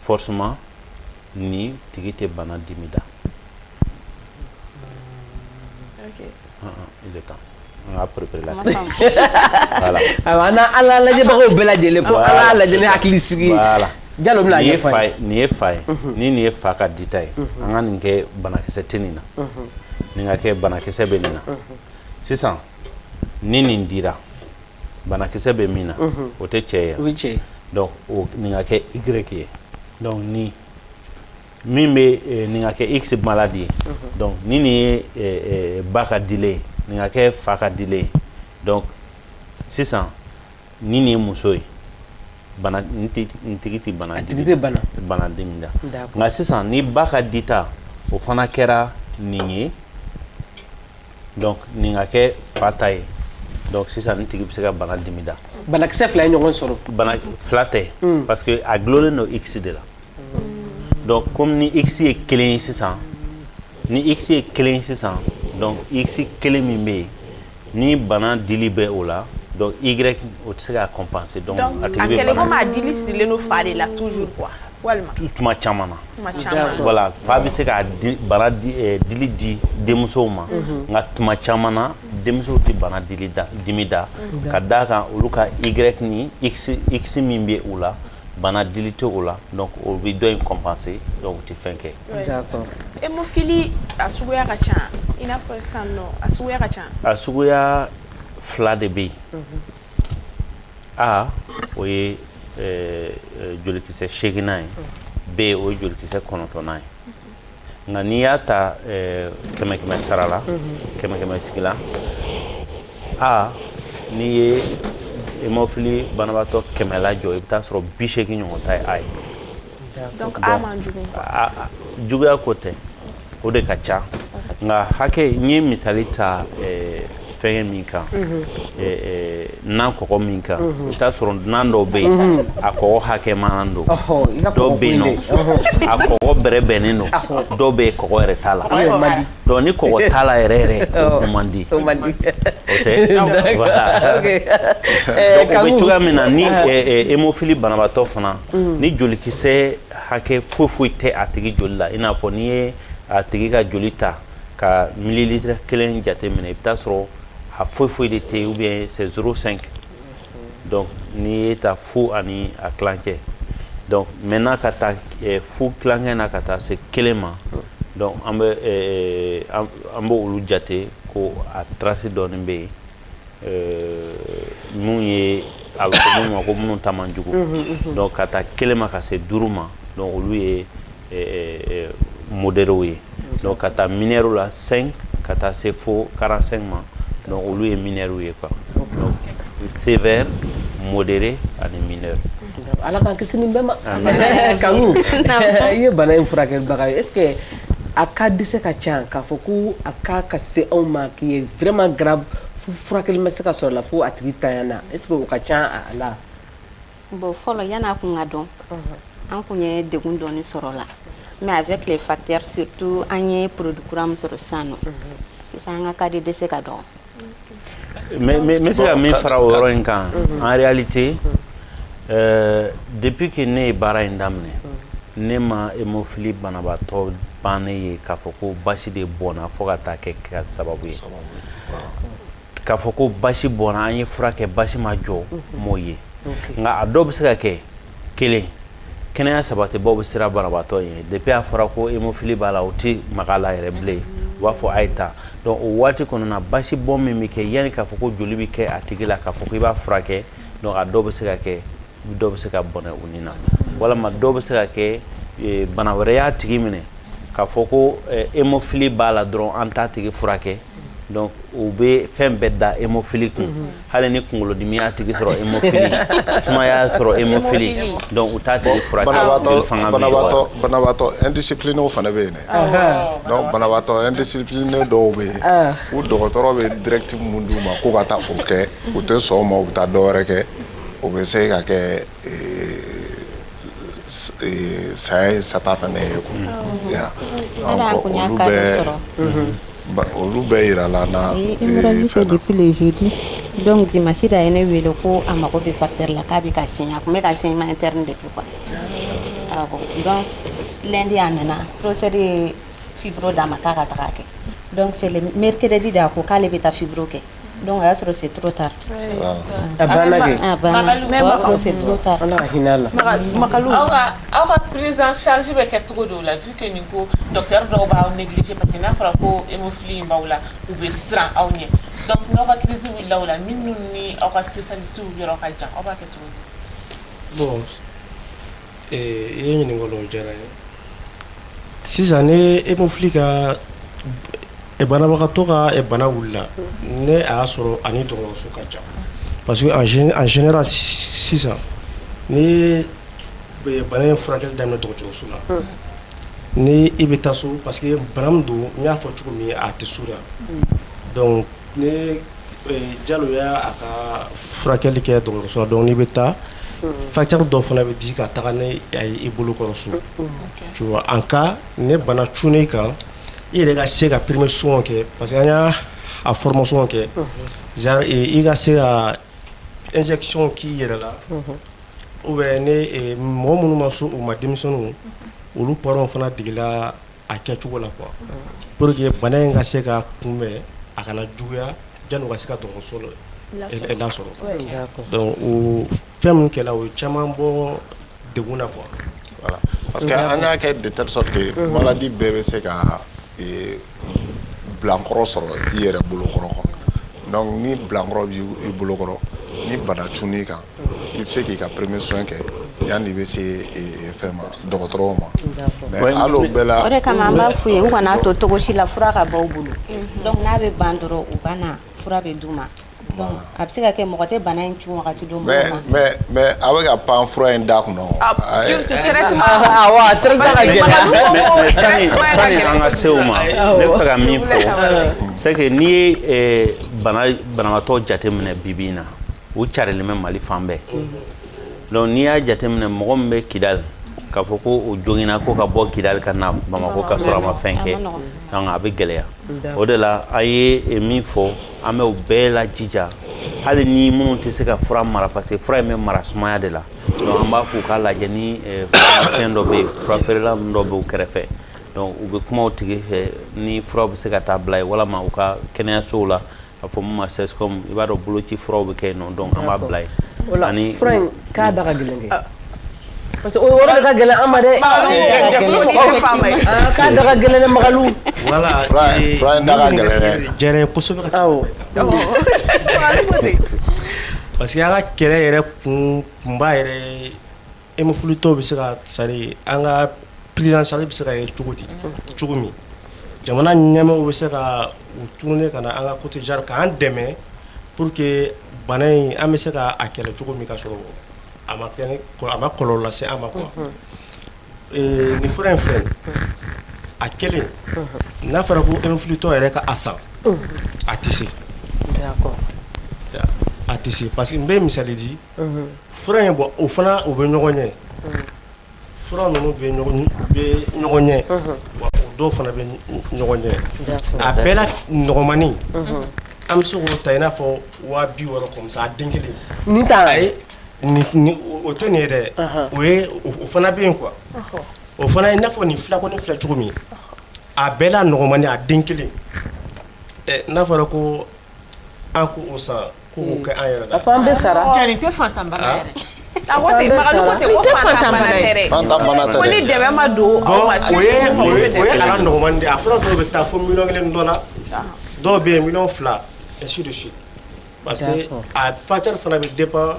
forcément nin tigi tɛ bana dimi da ok ah, ah, il est temps an ka préparer la voilà awɔ an n'an an n'an lajɛbagaw bɛɛ lajɛlen ko an k'a lajɛ ni hakili sigi ye voilà Jalo bɛna a nin ye ɲɛfɔ an fa ye ye nin ye fa ye ni nin ye fa ka dita ye an ka nin kɛ banakisɛ tɛ nin na nin ka kɛ banakisɛ bɛ nin na sisan ni nin dira banakisɛ bɛ min na o tɛ cɛ ye donc nin ka kɛ y ye donc ni min bɛ nin ka kɛ x maladie ye donc ni nin ye ba ka dilen ye nin ka kɛ fa ka dilen ye donc sisan ni nin ye muso ye tigi tɛ bana dimi da nka sisan ni ba ka dita o fana kɛra nin ye donc nin ka kɛ fa ta ye donc sisan nin tigi bɛ se ka bana dimi da banakisɛ fila ye ɲɔgɔn sɔrɔ bana fila tɛ hmm. parce que a dulonnen don x de la donc comme ni x ye kelen ye sisan ni x ye kelen ye sisan donc x kelen min bɛ yen ni bana dili bɛ o la donc y o tɛ se ka compenser donc a tigi bɛ bana donc a kɛlen komi a dili sirilen don fa de la toujours quoi walima tuma caman na tuma caman voilà fa bɛ se ka bana eh, dili di denmusow ma mhm. nka tuma caman na denmusow tɛ bana dili dimi da mhm. ka d'a kan olu ka y ni x x min bɛ u la bana dili tɛ o la donc o bɛ dɔ in compenser donc u tɛ fɛn kɛ. d'accord hémophilie a suguya ka ca i n'a fɔ sisan nɔ a suguya ka ca. a suguya fila de bɛ yen. Mhm. A o ye jolikisɛ seginnan ye B o ye jolikisɛ kɔnɔntɔnnan ye nka n'i y'a ta kɛmɛ kɛmɛ sara la kɛmɛ kɛmɛ sigi la aa n'i ye hémophilie banabaatɔ kɛmɛ lajɔ i bɛ taa sɔrɔ bi segin ɲɔgɔn ta ye A ye juguya ko tɛ o de ka ca nka hakɛ n ye misali ta eh, fɛngɛ min kan mhm. eh, eh, nan kɔkɔ min kan mhm. i t'a sɔrɔ nan dɔw bɛ yen mhm. a kɔkɔ hakɛma don dɔw bɛ yen nɔ a kɔkɔ bɛrɛbɛnnen don dɔw bɛ yen kɔkɔ yɛrɛ t'a la donc ni kɔkɔ t'a la yɛrɛ yɛrɛ o man di o tɛ voilà donc o bɛ cogoya min na ni hémophilie banabaatɔ fana ni jolikisɛ Hakɛ foyi foyi tɛ a tigi joli la i n'a fɔ n'i ye a tigi ka joli ta ka mililitiri kelen jate minɛ i bɛ taa sɔrɔ a foyi foyi de tɛ ou bien c'est zéro cinq donc n'i ye ta fu ani a kilancɛ donc maintenant ka ta fu kilancɛ na ka taa se kelen ma donc an b' olu jate ko a trace dɔɔnin bɛ yen Mun ye a bɛ fɔ minnu ma ko minnu ta man jugu donc ka taa kelen ma ka se duuru ma donc olu ye modéréw ye donc ka taa mineurw la cinq ka taa se fo quarante-cinq ma donc olu ye mineurw ye quoi donc sévère modéré ani mineur ala k'an kisi nin bɛɛ ma Kanku i ye bana in furakɛbaga ye e A ka dɛsɛse ka ca k'a fɔ ko a k'a ka se anw ma k'i ye vma ga furakɛ bɛ se ka sɔrɔ la fo a tigi ta na e o ka ca a la bon fɔlɔ yan n'a kun ka dɔn an tun ye deg dɔɔninɔni sɔrɔ la mɛ a bɛ tile faya to an ye porourkuran sɔrɔ san sisan an ka ka di dɛsɛse ka dɔn mais mais n bɛ se ka min fara o yɔrɔ in kan mhm. en réalité mhm. euh, depuis que ne ye baara in daminɛ mhm. ne ma hémophilie banabaatɔ bannen ye k'a fɔ ko basi de bɔnna fo ka taa kɛ ka sababu ye k'a fɔ ko basi bɔnna an ye fura kɛ basi ma jɔ m'o ye nka a dɔw bɛ se ka kɛ kelen kɛnɛya sabatibaaw bɛ siran banabaatɔ ye depuis a fɔra ko hémophilie b'a la u tɛ maga a la yɛrɛ bilen u b'a fɔ a ye taa donc o waati kɔnɔna basi bɔn min bɛ kɛ yanni k'a fɔ ko joli bɛ kɛ a tigi la k'a fɔ ko i b'a furakɛ donc a dɔw bɛ se ka kɛ dɔw bɛ se ka bɔnɛ u ni na walima dɔw bɛ se ka kɛ bana wɛrɛ y'a tigi minɛ k'a fɔ ko hémophilie b'a la dɔrɔn an t'a tigi furakɛ donc u bɛ fɛn bɛɛ da hémophilie kun hali ni kunkolodimi y'a tigi sɔrɔ hémophilie sumaya y'a sɔrɔ hémophilie donc u t'a tigi furakɛ joli fanga bɛ dɔgɔya banabaatɔ indisciplinéw fana bɛ yen dɛ donc banabaatɔ indiscipliné dɔw bɛ yen u dɔgɔtɔrɔ bɛ directive mun d'u ma k'u ka taa o kɛ u tɛ sɔn o ma u bɛ taa dɔ wɛrɛ kɛ o bɛ se ka kɛ saya ye sata fana ye olu bɛɛ jira la dɔnku di masi da ye ne wele ko a mago bɛ fa la k'a bɛ ka sin a tun bɛ ka sin ma de kɛ dɔn lɛndi y'a nana porosɛri ye fibro d'a ma k'a ka taga kɛ dɔn mɛrikɛdi da a ko k'ale bɛ taa fibro kɛ Donc a y'a sɔrɔ c'est trop tard a banna kɛ, a banna, o y'a sɔrɔ c'est trop tard Ala ka hinɛ a la, Makalu, aw ka aw ka prise en charge bɛ kɛ cogo di o la vu que nin ko docteur dɔw b'aw négliger parce que n'a fɔra ko hémophilie in b'aw la u bɛ siran aw ɲɛ donc n'aw ka crise wulila o la minnu ni aw ka spécialiste yɔrɔ ka jan aw b'a kɛ cogo di, bon I ye ɲininkali kɛ o diyara n ye sisan ni hémophilie ka banabagatɔ ka bana wulila ni a y'a sɔrɔ a ni dɔgɔtɔrɔso ka jan parce que en général sisan ni bana in furakɛli daminɛna dɔgɔtɔrɔso la ni i bɛ taa so parce que bana min don n y'a fɔ cogo min a tɛ so la Ni Jalo y'a ka furakɛli kɛ dɔgɔtɔrɔso la donc n'i bɛ taa facteur dɔ fana bɛ di ka taga n'a ye i bolo kɔrɔ so en cas ni bana cunna i kan i yɛrɛ ka se ka premier soin kɛ parce que an y'a formation kɛ genre i ka se ka injection k'i yɛrɛ la ou bien ni mɔgɔ minnu ma se o ma denmisɛnninw olu parents fana degela a kɛ cogo la quoi pour que bana in ka se ka kunbɛn a kana juguya janni u ka se ka dɔgɔtɔrɔso lasɔrɔ donc o fɛn min kɛra o ye caman bɔ degun na quoi voilà parce que an y'a kɛ de telle sorte que malade bɛɛ bɛ se ka bilankɔrɔ sɔrɔ i yɛrɛ bolokɔrɔ quoi donc ni bilankɔrɔ b'i bolokɔrɔ ni bana cunn'i kan I bɛ se k'i ka premier soin kɛ yani i bɛ se fɛn ma dɔgɔtɔrɔw ma mais hali o bɛɛ la o de kama an b'a f'u ye u kana to cogo si la fura ka ban u bolo donc n'a bɛ ban dɔrɔn u ka na fura bɛ d'u ma donc a bɛ se ka kɛ mɔgɔ tɛ bana in cun wagati dɔn mɔgɔ ma mais a bɛ ka pan fura in da kunna surtout traitement awɔ a traitement ka gɛlɛn mais sani sani an ka se o ma ne bɛ fɛ ka min fɔ c'est que n'i ye bana banabaatɔ jateminɛ bi bi in na u carilen bɛ Mali fan bɛɛ, unhun, donc n'i y'a jateminɛ mɔgɔ min bɛ Kidal k'a fɔ ko o joginna ko ka bɔ Kidal ka na Bamakɔ ka sɔrɔ a ma fɛn kɛ, donc a bɛ gɛlɛya, o de la an ye min fɔ an bɛ u bɛɛ lajija hali ni minnu tɛ se ka fura mara parce que fura in bɛ mara sumaya de la donc an b'a fɔ u k'a lajɛ ni pharmacien dɔ bɛ yen fura feerela ninnu dɔ bɛ u kɛrɛfɛ donc u bɛ kuma o tigi fɛ ni fura bɛ se ka taa bila yen walima u ka kɛnɛyasow la A fɔ min ma CSCOM i b'a dɔn boloci furaw bɛ kɛ yen nɔ donc an b'a bila yen fura in k'a da ka gɛlɛn kɛ parce que o yɔrɔ de ka gɛlɛn an ma dɛ k'a da ka gɛlɛn dɛ Makalu voilà parce que an ka kɛlɛ yɛrɛ kun kunba yɛrɛ Hémophilietɔw bɛ se ka sari an ka prise en charge bɛ se ka ye cogo di cogo min jamana ɲɛmaaw bɛ se ka u tourner ka na an ka côté genre k'an dɛmɛ pour que bana in an bɛ se k'a kɛlɛ cogo min ka sɔrɔ a ma kɔlɔlɔ lase an ma quoi nin fura in filɛ a kelen n'a fɔra ko hémophilietɔ yɛrɛ ka a san a tɛ se a tɛ se parce que n bɛ misali di fura in bɔ o fana u bɛ ɲɔgɔn ɲɛ fura ninnu bɛ ɲɔgɔn ɲɛ wa o dɔw fana bɛ ɲɔgɔn ɲɛ a bɛɛ la nɔgɔmanin an bɛ se k'o ta i n'a fɔ waa bi wɔɔrɔ comme ça a den kelen nin t'a la o tɛ nin ye dɛ o ye o fana bɛ yen quoi o fana i n'a fɔ nin fura kɔni filɛ cogo min a bɛɛ la nɔgɔmanin a den kelen n'a fɔra ko An ko o san ko kɛ an yɛrɛ an bɛ sara tɛ ni dɛmɛ ma don a fɔlɔ dɔw bɛ taa fo mi kelen dɔ la dɔw bɛ yen mi fila si si parce que a fa fana bɛ de pan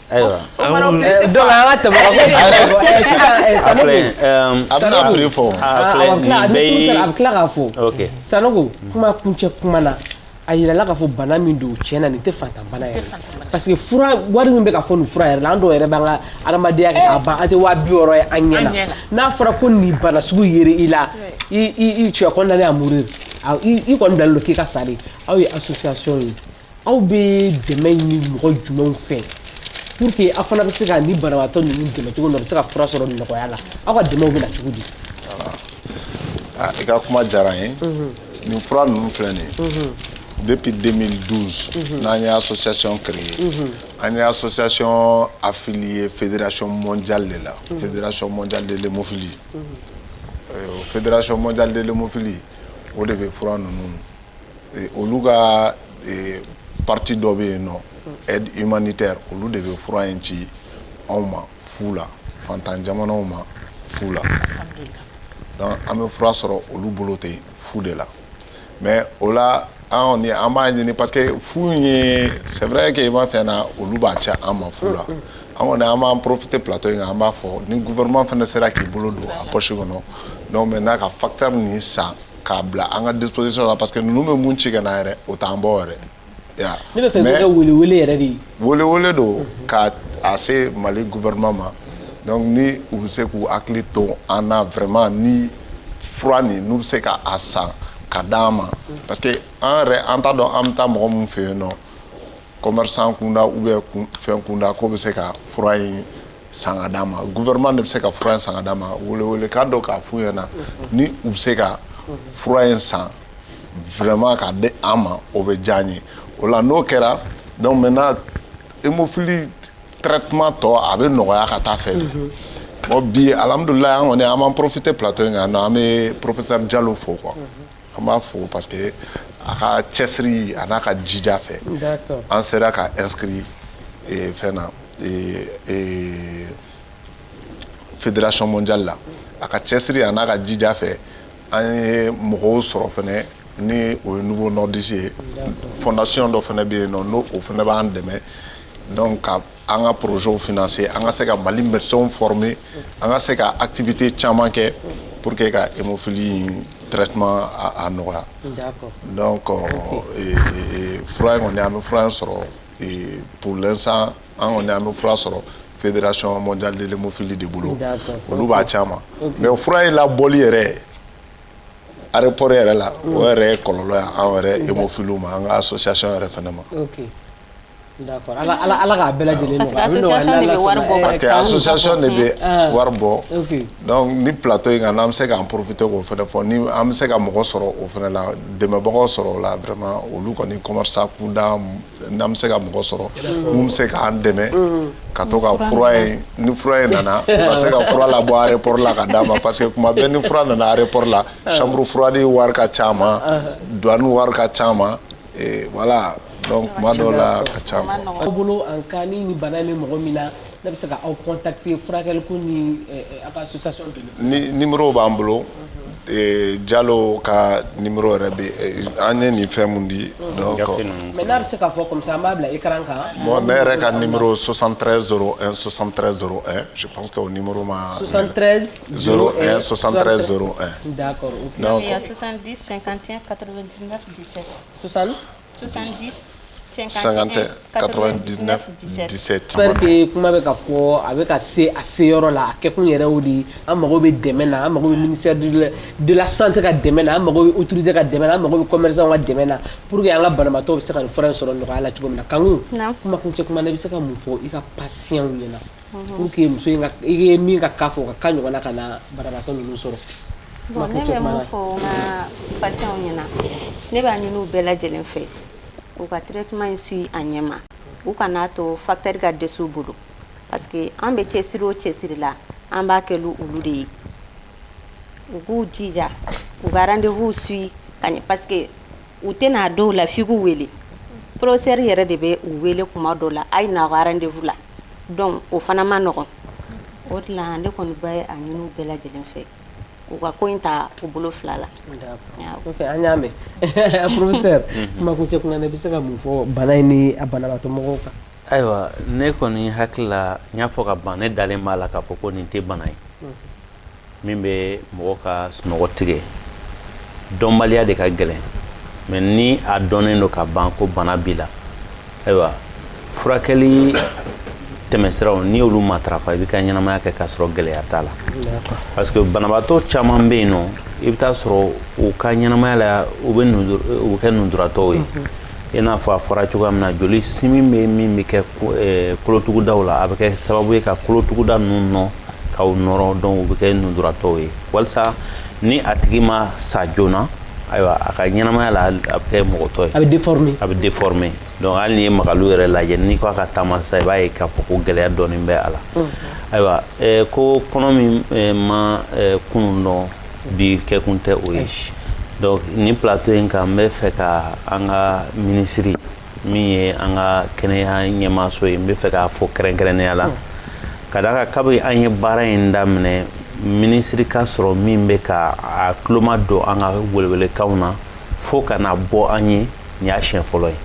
ayiwa donc an ka tɛmɛ ka bɔ yen sisan sanogo a bɛna prix fɔ a bɛ tila k'a fɔ sanogo kuma kuncɛ kuma na a yirala k'a fɔ bana min don tiɲɛ na nin tɛ faantan bana yɛrɛ parce que fura wari min bɛ ka fɔ nin fura yɛrɛ la an dɔw yɛrɛ b'an ka adamadenya kɛ k'a ban an tɛ waa bi wɔɔrɔ ye an ɲɛ na n'a fɔra ko nin bana sugu yera i la i tu es condamné à mourir i kɔni bilalen don k'i ka sa de aw ye association ye Aw bɛ dɛmɛ ni mɔgɔ jumɛn fɛ pour que aw fana bɛ se ka ni banabagatɔ ninnu dɛmɛ cogo bɛ se ka fura sɔrɔ nɔgɔya la aw ka dɛmɛ bɛ cogo di i ka kuma diyara ye nin fura ninnu filɛ nin ye depi den n'an y'a sɔsɛsɔn kari ye an y'a sɔsɛsɔn a fili ye feererac mɔn ja de la feererac mɔn delefi o feererac mɔn ja delefi o de bɛ fura ninnu olu ka partie dɔ bɛ yen nɔ aide humanitaire olu de bɛ fura in ci anw ma fu la fantan jamanaw ma fu la donc an bɛ fura sɔrɔ olu bolo ten fu de la mais o la an b'a ɲini parce que fu ye c'est vrai que i ma fɛn na olu b'a ci an ma fu la an kɔni an b'an profiter plateau in kan an b'a fɔ ni gouvernement fana sera k'i bolo don a poche kɔnɔ donc maintenant ka facteur nin san k'a bila an ka disposition la parce que ninnu bɛ mun ci ka na yɛrɛ o t'an bɔ yɛrɛ ya ne bɛ fɛ k'o kɛ welewele yɛrɛ de ye welewele don ka a se Mali gouvernement ma donc ni u bɛ se k'u hakili to an na vraiment ni fura nin n'u bɛ se ka a san ka d'an ma parce que an yɛrɛ an t'a dɔn an bɛ taa mɔgɔ min fɛ yen nɔ commerçant kunda ou bien fɛn kunda k'o bɛ se ka fura in san ka d'an ma gouvernement de bɛ se ka fura in san ka d'an ma welewelekan don k'a f'u ɲɛna ni u bɛ se ka fura in san vraiment k'a di an ma o bɛ diya an ye o la n'o kɛra donc maintenant hémophilie traitement tɔ a bɛ nɔgɔya ka taa fɛ dɛ bon bi alhamdulilayi an kɔni an b'an profiter plateau in kan yan nɔ an bɛ professeur Jalo fo quoi An b'a fo parce que a ka cɛsiri a n'a ka jija fɛ an sera ka inscrit fɛn na fédération mondiale la a ka cɛsiri a n'a ka jija fɛ an ye mɔgɔw sɔrɔ fana ni o ye Novo Nordisk ye fondation dɔ fana bɛ yen nɔ ni o fana b'an dɛmɛ donc ka an ka projets financer an ka se ka Mali médecins former an ka se ka activité caman kɛ pour que ka hémophilie in traitement a nɔgɔya donc fura in kɔni an bɛ fura in sɔrɔ pour l'instant an kɔni an bɛ fura sɔrɔ fédération mondiale de l'hémophilie de bolo olu b'a ci an ma mais fura in labɔli yɛrɛ aéroport yɛrɛ la o yɛrɛ ye kɔlɔlɔ ye an yɛrɛ hémophiles ma an ka association yɛrɛ fana ma Ala ka bɛɛ lajɛlen parce que association de bɛ wari bɔ parce que association de bɛ wari bɔ donc ni plateau in kan n'an bɛ se k'an profiter k'o fana fɔ ni an bɛ se ka mɔgɔ sɔrɔ o fana la dɛmɛbagaw sɔrɔ o la vraiment olu kɔni commerçant kunda n'an bɛ se ka mɔgɔ sɔrɔ mun bɛ se k'an dɛmɛ ka to ka fura in ni fura in nana u ka se ka fura labɔ aéroport la ka d'an ma parce que tuma bɛɛ ni fura nana aéroport la chambre froide wari ka c'an ma douane wari ka c'an ma voilà donc tuma dɔw la a ka ca quoi. aw bolo en cas ni nin bana in bɛ mɔgɔ min na n'a bɛ se ka aw contacter furakɛliko ni eh, eh, a ka association de ni numéro b'an bolo ee Jalo ka numéro yɛrɛ bɛ ee, an ye nin fɛn mun di donc Gafe ninnu. mais n'a bɛ se k'a fɔ comme ça an b'a bila écran kan bon ne yɛrɛ ka numéro 73 01 73 01 je pense que o numéro ma 73 01 73 01 d'accord ok Donc, Il y a 70, 51, 99. 17. 60. 70. 51 99 17 j'espère que kuma bɛ ka fɔ a bɛ ka se a seyɔrɔ la a kɛkun yɛrɛ y'o de ye an mago bɛ dɛmɛ na an mago bɛ ministère de la santé ka dɛmɛ na an mago bɛ autorité ka dɛmɛ na an mago bɛ commerçant ka dɛmɛ na pour que an ka banabaatɔw bɛ se ka nin fura in sɔrɔ nɔgɔya la cogo min na Kanku kumakuncɛ kuma na i bɛ se ka mun fɔ i ka patients ɲɛna Unhun, pour que muso in ka i ye min ka cas fɔ o ka cas ɲɔgɔnna kana banabaatɔ ninnu sɔrɔ, bon ne bɛ min fɔ n ka patients ɲɛna ne b'a ɲini u bɛɛ lajɛlen fɛ u ka traitement in suit a ɲɛma u kan'a to facteur ka dɛsɛ u bolo parce que an bɛ cɛsiri o cɛsiri la an b'a kɛ olu de ye u k'u jija u ka rendez-vous suit ka ɲɛ parce que u tɛ na dɔw la f'i k'u wele professeur yɛrɛ de bɛ u wele kuma dɔw la a ye na a ka rendez-vous la donc o fana man nɔgɔ o de la ne kɔni bɛ a ɲini u bɛɛ lajɛlen fɛ u ka ko in ta u bolo fila la an y'a mɛn professeur kumakuncɛ kuma na i bɛ se ka mun fɔ bana in ni a banabaatɔ mɔgɔw kan Ayiwa ne kɔni hakili la n y'a fɔ ka ban ne dalen b'a la k'a fɔ ko nin tɛ bana ye min bɛ mɔgɔ ka sunɔgɔ tigɛ dɔnbaliya de ka gɛlɛn mais ni a dɔnnen don ka ban ko bana b'i la ayiwa furakɛli tɛmɛsiraw n'i y'olu matarafa i bɛ ka ɲɛnamaya kɛ k'a sɔrɔ gɛlɛya t'a la parce que banabaatɔ caman bɛ yen nɔ i bɛ taa sɔrɔ u ka ɲɛnamaya la u bɛ kɛ nujuratɔw ye i n'a fɔ a fɔra cogoya min na joli simi bɛ min bɛ kɛ eh, kolotugudaw la a bɛ kɛ sababu ye ka kolotuguda ninnu nɔ k'u nɔrɔ donc u bɛ kɛ nujuratɔw ye walisa ni a tigi ma sa joona ayiwa a ka ɲɛnamaya la a bɛ kɛ mɔgɔtɔ ye a bɛ déformer donc hali n'i ye Magalu yɛrɛ lajɛ n'i ko a ka taama sisan i b'a ye k'a fɔ ko gɛlɛya dɔɔnin bɛ a la ayiwa eh, ko kɔnɔ min eh, ma kunun dɔn bi kɛkun tɛ o ye donc nin plateau in kan n bɛ fɛ ka an ka minisiri min ye an ka kɛnɛya ɲɛmaaso ye n bɛ fɛ k'a fo kɛrɛnkɛrɛnnenya la ka d'a kan kabi an ye baara in daminɛ minisiri ka sɔrɔ min bɛ ka a tulomajɔ an ka welewelekanw na fo ka na bɔ an ye nin y'a siɲɛ fɔlɔ ye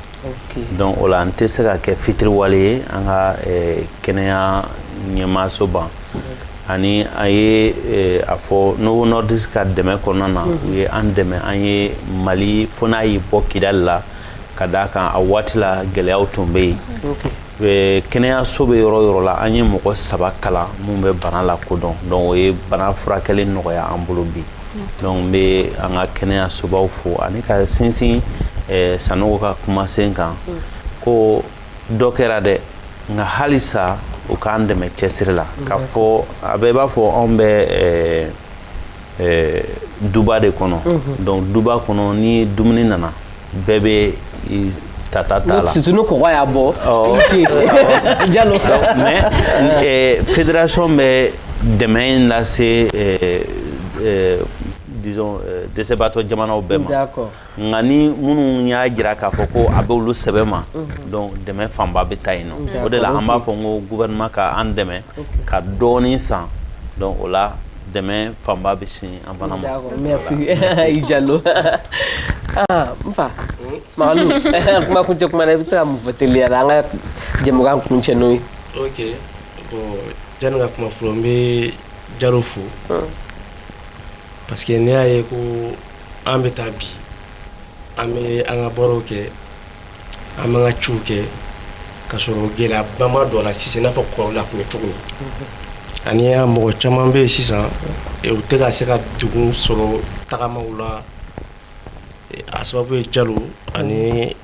donc o la n tɛ se ka kɛ fitiriwale ye an ka kɛnɛya ɲɛmaaso ban ani an ye eh, a fɔ Novo Nordisk ka dɛmɛ kɔnɔna na mhm. u ye an dɛmɛ an ye mali fo n'a y'i bɔ kidali la ka d'a kan a waati la gɛlɛyaw tun bɛ yen eh, kɛnɛyaso bɛ yɔrɔ yɔrɔ la an ye mɔgɔ saba kalan minnu bɛ bana lakodɔn donc o ye bana furakɛli nɔgɔya an bolo bi mhm. donc n bɛ an ka kɛnɛyasobaw fo ani ka sinsin eh, sanogo ka kumasen kan mhm. ko dɔ kɛra dɛ nka halisa u k'an dɛmɛ cɛsiri la k'a fɔ a bɛɛ b'a fɔ anw bɛ eh, eh, duba de kɔnɔ mhm. donc duba kɔnɔ ni dumuni nana bɛɛ bɛ t'a ta t'a la surtout ni kɔgɔ y'a bɔ jalo mais eh, fédération bɛ dɛmɛ in lase disons dɛsɛbaatɔ jamanaw bɛɛ ma Nka ni minnu y'a jira k'a fɔ ko a bɛ olu sɛbɛ ma donc dɛmɛ fanba bɛ taa yen nɔ o de la an b'a fɔ n ko gouvernement k'an dɛmɛ ka dɔɔnin san o la dɛmɛ fanba bɛ sin an fana ma i jalo aa n fa kuma kuncɛ kuma i bɛ se ka mun fɔ teliya la an ka jɛmukan kuncɛ n'o ye yanni ka kuma fɔlɔ n bɛ jalo fo parce que n'i y'a ye ko an bɛ taa bi an bɛ an ka baaraw kɛ an b'an ka ciw kɛ ka sɔrɔ gɛlɛyaba ma don a la sisan i n'a fɔ kɔrɔlen a tun bɛ cogo min ani a mɔgɔ caman bɛ yen sisan u tɛ ka se ka degun sɔrɔ tagamaw la a sababu ye jalo ani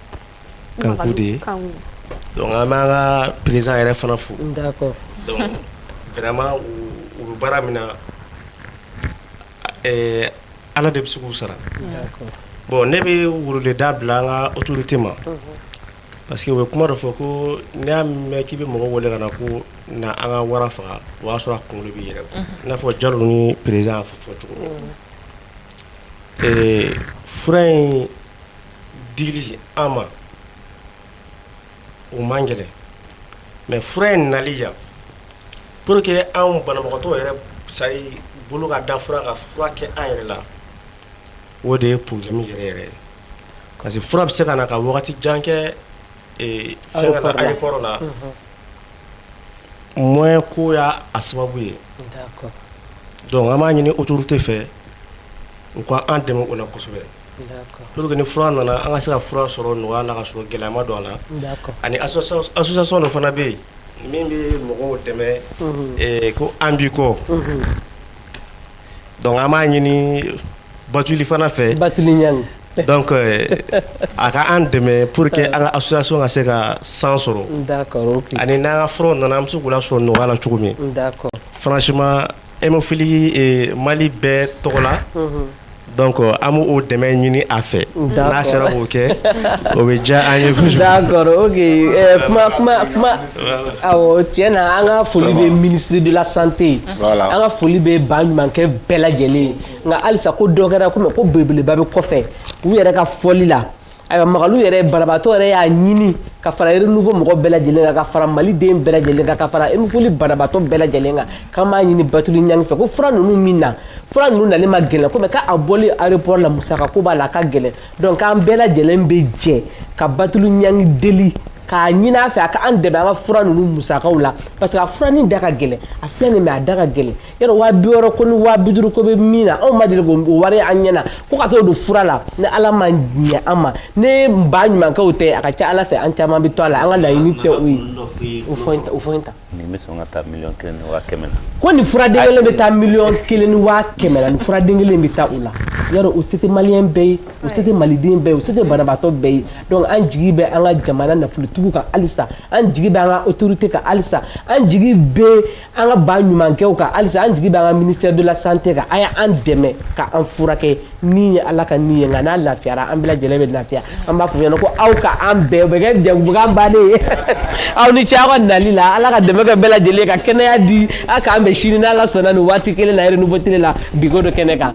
kanku de ye donc an b'an ka président yɛrɛ fana fo d'accord donc vraiment u bɛ baara min na ɛɛ Ala de bɛ se k'u sara bon ne bɛ weleweleda bila an ka autorité ma parce que u bɛ kuma dɔ fɔ ko n'i y'a mɛn k'i bɛ mɔgɔ wele ka na ko na an ka wara faga o y'a sɔrɔ a kunkolo b'i yɛrɛ bolo i n'a fɔ jalo ni président y'a fɔ cogo min fura in dili an ma o man gɛlɛn mais fura in nali yan pour que anw banabagatɔ yɛrɛ sani bolo ka da fura ka fura kɛ an yɛrɛ la o de ye problème yɛrɛ yɛrɛ ye parce que fura bɛ se ka na ka wagati jan kɛ aéroport la moyen ko y'a sababu ye donc an b'a ɲini autorité fɛ u ka an dɛmɛ o la kosɛbɛ Pour que ni fura nana an ka se ka fura sɔrɔ nɔgɔya la ka sɔrɔ gɛlɛya ma don a la ani association dɔ fana bɛ yen min bɛ mɔgɔw dɛmɛ ko an b'i kɔ donc an b'a ɲini batuli fana fɛ donc a ka an dɛmɛ pour que an ka association ka se ka san sɔrɔ ani n'an ka fura nana an bɛ se k'u lasɔrɔ nɔgɔya la cogo min franchement Hémophilie mali bɛɛ tɔgɔ la donc an b'o dɛmɛ ɲini a fɛ n'a sera k'o kɛ o bɛ diya an ye kuma tiɲɛ na an ka foli bɛ ministre de la santé ye an ka foli bɛ baɲumankɛ bɛɛ lajɛlen ye nka halisa ko dɔ kɛra ko belebeleba bɛ kɔfɛ u yɛrɛ ka fɔli la Ayiwa Magalu yɛrɛ banabaatɔ yɛrɛ y'a ɲini ka fara renouveau mɔgɔ bɛɛ lajɛlen kan, ka fara maliden bɛɛ lajɛlen kan, ka fara hémophilie banabaatɔ bɛɛ lajɛlen kan, k'an b'a ɲini Batuli Ɲangi fɛ ko fura ninnu min na, fura ninnu nali man gɛlɛn ko mais k'a bɔli aéroport la musaka ko b'a la, a ka gɛlɛn donc k'an bɛɛ lajɛlen bɛ jɛ ka Batuli Ɲangi deli k'a ɲini a fɛ a ka an dɛmɛ an ka fura ninnu musakaw la parce que a fura nin da ka gɛlɛn, a filɛ nin ye mais a da ka gɛlɛn yɔrɔ waa bi wɔɔrɔ ko ni waa bi duuru ko bɛ min na anw ma deli k'o wari an ɲɛna ko ka t'o don fura la ni ala ma ɲɛ an ma ni ba ɲumankɛw tɛ a ka ca ala fɛ an caman bɛ to a la an ka laɲini tɛ o ye o fɔ in ta o fɔ in ta nin bɛ sɔn ka taa miliyɔn kelen ni waa kɛmɛ na ko nin furaden kelen bɛ taa miliyɔn kelen ni waa kɛmɛ na nin furaden kelen bɛ taa o la yɔrɔ o se tɛ maliyɛn bɛɛ ye o se tɛ maliden bɛɛ ye o se tɛ banabaatɔ bɛɛ ye donc an jigi bɛ an ka jamana nafolotigiw kan halisa an jigi bɛ an ka autorité kan halisa an jigi bɛ an ka ba ɲumankɛw kan halisa an jigi b'an ka ministère de la santé kan a y'an dɛmɛ ka an furakɛ ni ye Ala ka ni ye nka n'a lafiyara an bɛɛ lajɛlen bɛ lafiya an b'a fɔ ɲɛna ko aw ka an bɛɛ o bɛ kɛ jɛmukan bannen ye aw ni ce aw ka nali la Ala ka dɛmɛ kɛ bɛɛ lajɛlen ka kɛnɛya di a k'an bɛn sini n'Ala sɔnna nin waati kelen na Renouveau Télé la bi ko do kɛnɛ kan.